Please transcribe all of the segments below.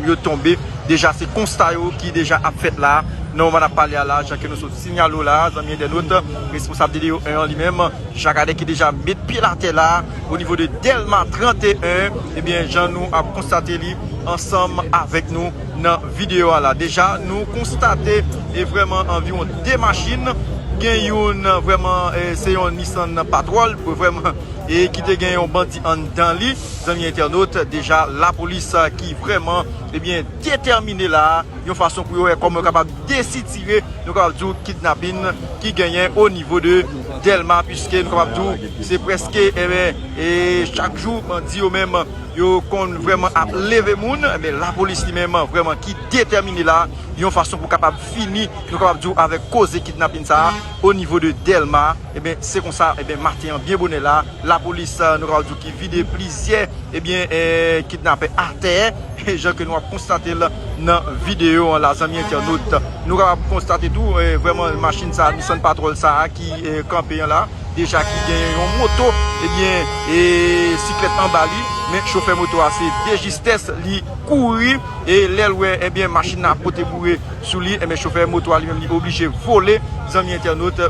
yo tonbe deja se konsta yo ki deja ap fèt la nan moman nap pale a la jan ke nou sot sinyale w la zanmi entènot responsab DDO 1 an li menm Jacques Ader ki deja met pye l atè la o nivo de Dèlma 31 ebyen jan nou ap konstate li ansanm avèk nou nan videyo a la deja nou konstate e vrèman anviwon 2 machin gen youn vrèman se yon Nissan Patrol vrèman e ki te gen yon bandi anndan li. Zanmi entènot, deja lapolis ki vrèman ebyen detèmine la a, yon fason pou yo wè kòman yo kapab desitire, nou kapab di w, kidnapin ki genyen o nivo de Dèlma, piske nou kapab di w, se prèske ebyen, e chak jou bandi yo menm yo konn vrèman ap leve moun, ebyen lapolis li menm vrèman ki detèmine la a, yon fason pou kapab fini, nou kapab di w, avèk koze kidnapin sa a o nivo de Dèlma. Ebyen se konsa ebyen maten an byen bonè la lapolis nou kapab di w ki vide plizyè ebyen kidnapè atè jan ke nou ap konstate l nan videyo an la zanmi entènot. Nou kapab konstate tou vreman machin sa Nissan Patrol sa ki kanpe an la deja ki genyen yon moto ebyen e siklèt anba li men chofè moto a se dejistès li kouri e lè l wè ebyen machin nan ap pote boure sou li ebyen chofè moto a li menm li oblije vole zanmi entènot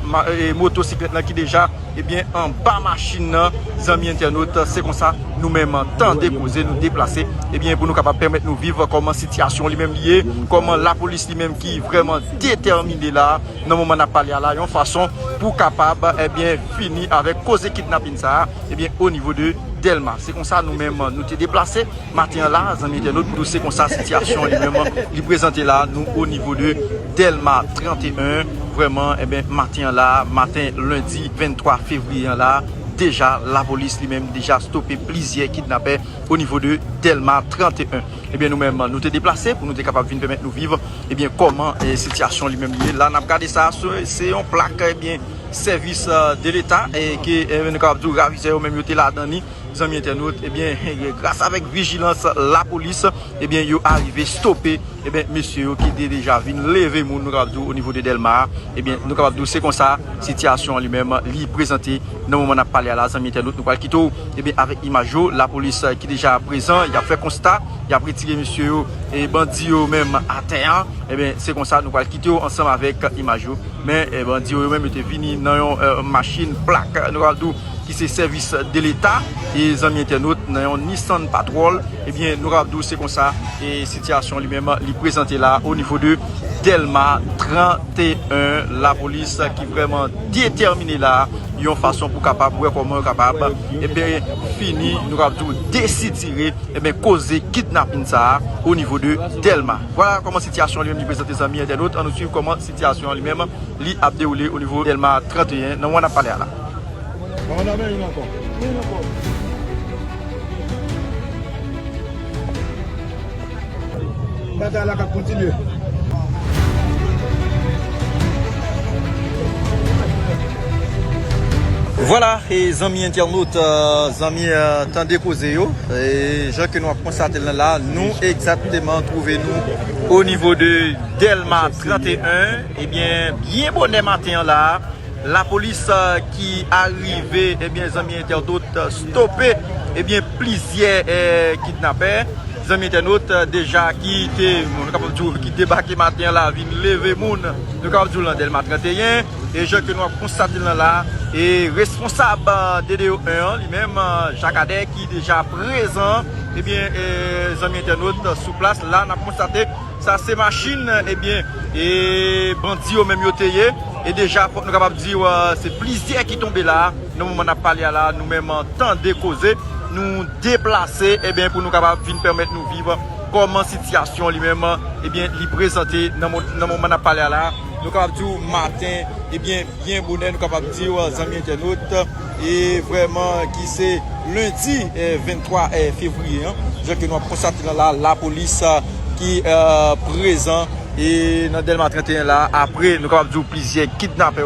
moto siklèt lan ki deja ebyen anba machin nan zanmi entènot se konsa nou menm tande koze nou deplase ebyen pou nou kapab pèmèt nou viv kòman sityasyon li menm li ye kòman lapolis li menm ki vreman detèmine la nan moman nap pale a la yon fason pou kapab ebyen fini avèk koze kidnapin sa a ebyen o nivo de dèlma se konsa nou menm nou te deplase. Maten an la a zanmi entènot pou nou se konsa sitiyasyon li menm li prezante la a nou o nivo de Dèlma 31 vrèman enben maten an la a maten lendi 23 fevriye an la a deja lapolis li menm deja stope plizyè kidnapè o nivo de Dèlma 31 enben nou menm nou te deplase pou nou te kapab vin pèmèt nou viv enben kòman sitiyasyon li menm li ye la a n ap gade sa a se yon plak enben sèvis de leta ke nou kapab di yo ravizè yo menm yo te ladan li. Zanmi entènot ebyen gras avèk vijilans lapolis ebyen yo arive stope ebyen mesye yo ki te deja vin leve moun nou kapab di w o nivo de Dèlma a ebyen nou kapab di w se konsa sitiyasyon an li menm li prezante nan moman n ap pale a la zanmi entènot nou pral kite w ebyen avèk imaj yo lapolis ki deja prezan y ap fè konsta y ap retire mesye yo e bandi yo menm atè a ebyen se konsa nou pral kite w ansanm avèk imaj yo men bandi yo yo menm yo te vini nan yon machin plak nou kapab di w. ki se sèvis de leta e zanmi entènot nan yon Nissan Patrol ebyen eh nou kapab di w se konsa e sitiyasyon li menm li prezante la o nivo de Dèlma 31 lapolis ki vrèman detèmine la yon fason pou kapab wè kòman yo kapab ebyen eh fini nou kapab di w desitire ebyen eh koze kidnapin sa a o nivo de Dèlma vwala kòman sitiyasyon li menm li prezante zanmi entènot an nou swiv kòman sitiyasyon li menm li ap dewoule o nivo Dèlma 31 nan moman n ap pale a la. Vwala e zanmi entènot, zanmi tande koze yo, jan ke nou ap konstate l nan la, nou egzatteman twouve nou o nivo de Dèlma 31, ebyen byen bonè maten an la. Lapolis ki arive ebyen zanmi entènot stope ebyen plizyè kidnapè zanmi entènot deja ki te nou kapab di w ki debake maten an la vin leve moun nou kapab di w lan Dèlma 31 e jan ke nou ap konstate l lan la e responsab DDO 1 an li menm Jacques Ader ki deja prezan ebyen zanmi entènot sou plas la n ap konstate. Sa se machin ebyen e bandi yo menm yo te ye e deja fòk nou kapab diw se plizyè ki tonbe la nan moman nap pale a la nou menm tande koze nou deplase ebyen pou nou kapab vin pèmèt nou viv kòman sitiyasyon li menm ebyen li prezante nan moman nap pale a la nou kapab diw maten ebyen byen bonè nou kapab diw zanmi entènot. e vrèman ki se lendi 23 fevriye an, jan ke nou ap konstate la la, lapolis ki prezan e nan dèlma 31 la, apre nou kapab di ou plizyè kidnapè.